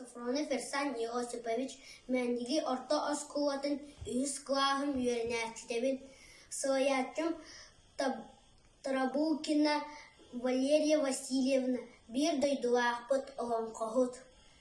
Софроны Ферсан Иосифович Мээндиги орто оскуолатын үһүс кылааһын үөрэнээччитэбин, салайааччым Тарабулкина Валерия Васильевна, биир дойдулаахпыт, олоҥхоһут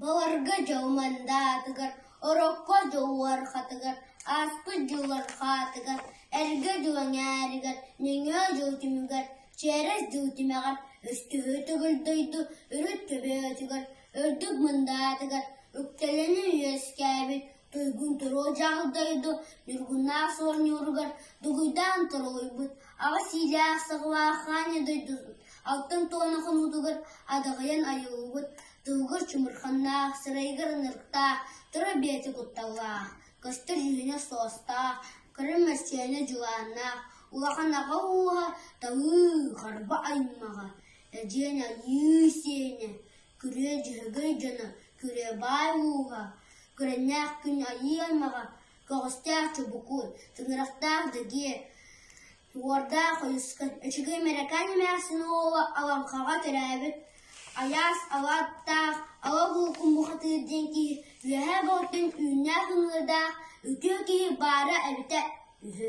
Баҕарга дьыл мандаатыгар, Орокко дьыл уорҕатыгар, Ааспыт дьыллар хаатыгар, Эргэ дьыл эҥээригэр, Нөҥүө дьыл түмүгэр, Чээрэс дьыл тимэҕэр, Өстүһү төгүл дойду Үрүт төбөтүгэр, Үрдүк Мындаатыгар, Үктэлэни үөскээбит Туйгун Торуо дьаһал дойду Ньургуннаах оонньууругар Дугуйдаан торугуйбут Аҕа сиилээх Саҕылаах Хаанньа дойдубут Алтан туона хомуутугар Адаҕайан айыллыбыт Тылгыр чумурханнаах Сырайыгар ынырыктаах Тыра бэйэтэ кутталлаах Көстөр иһинэ суостаах Кырым мэрсиэнэ дьулааннаах Улахан аҕа ууһа Талыы харба аймаҕа Эдьиэн Айыы сиэнэ Күрүө дьөһөгөй дьоно, күрүө баай мууһа, күрэннээх күн айыы аймаҕа, көҕүстээх чубукуй, тыҥырахтаах дэгиэ, уордаах хойусхан, үчүгэй мэрэкээн эмээхсин уола Алаҥхаҕа төрөөбүт Айаас Алааттаах Ала Булкун бухатыыр диэн киһи Үөһээ Балтын үүннээх ыҥыырдаах үтүө киһи баара эбитэ үһү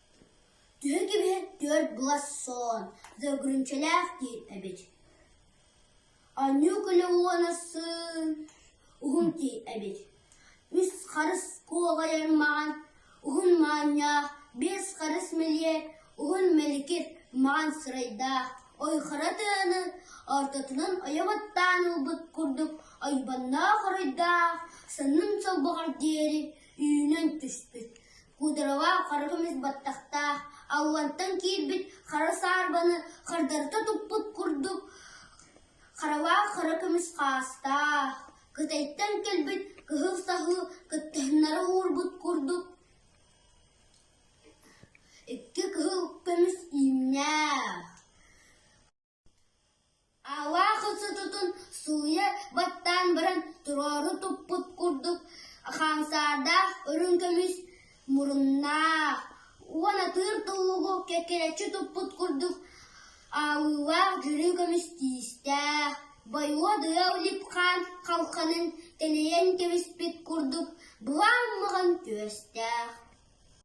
Төһө кэбиһэр түөрт глассон за угрюмчалаах диир эбит Анньыыкыла уонна сыын уһун тиий эбит Үс харыс куоҕайан маҕан уһун маанньаах Биэс харыс мэлиэт уһун мэликир маҕан сырайдаах Ойхара тыаны ортотунан ойоҕоттоон ылбыт курдук ойбонноох оройдоох Саннын солбоҕор диэри үүнэн түспүт Кудрава хара көмүс баттахтаах, аллантан киирбит хара саарбаны хардарыта туппут курдук, харалаах хара көмүс хаастаах, Кытайтан кэлбит кыһыл саһыы кыттыһыннары уурбут курдук, икки кыһыл көмүс иимнээх Аалаах ыстытытын сууйа баттаан баран туруору туппут курдук хаамсаардаах үрүҥ көмүс муруннаах уон атыыр тулугу кэккэрэччи туппут курдук аалыылаах дьүрү көмүс тиистээх бойуодуйа улипхаан халханын тэнийэн кэбиспит курдук былаан маҕан түөстээх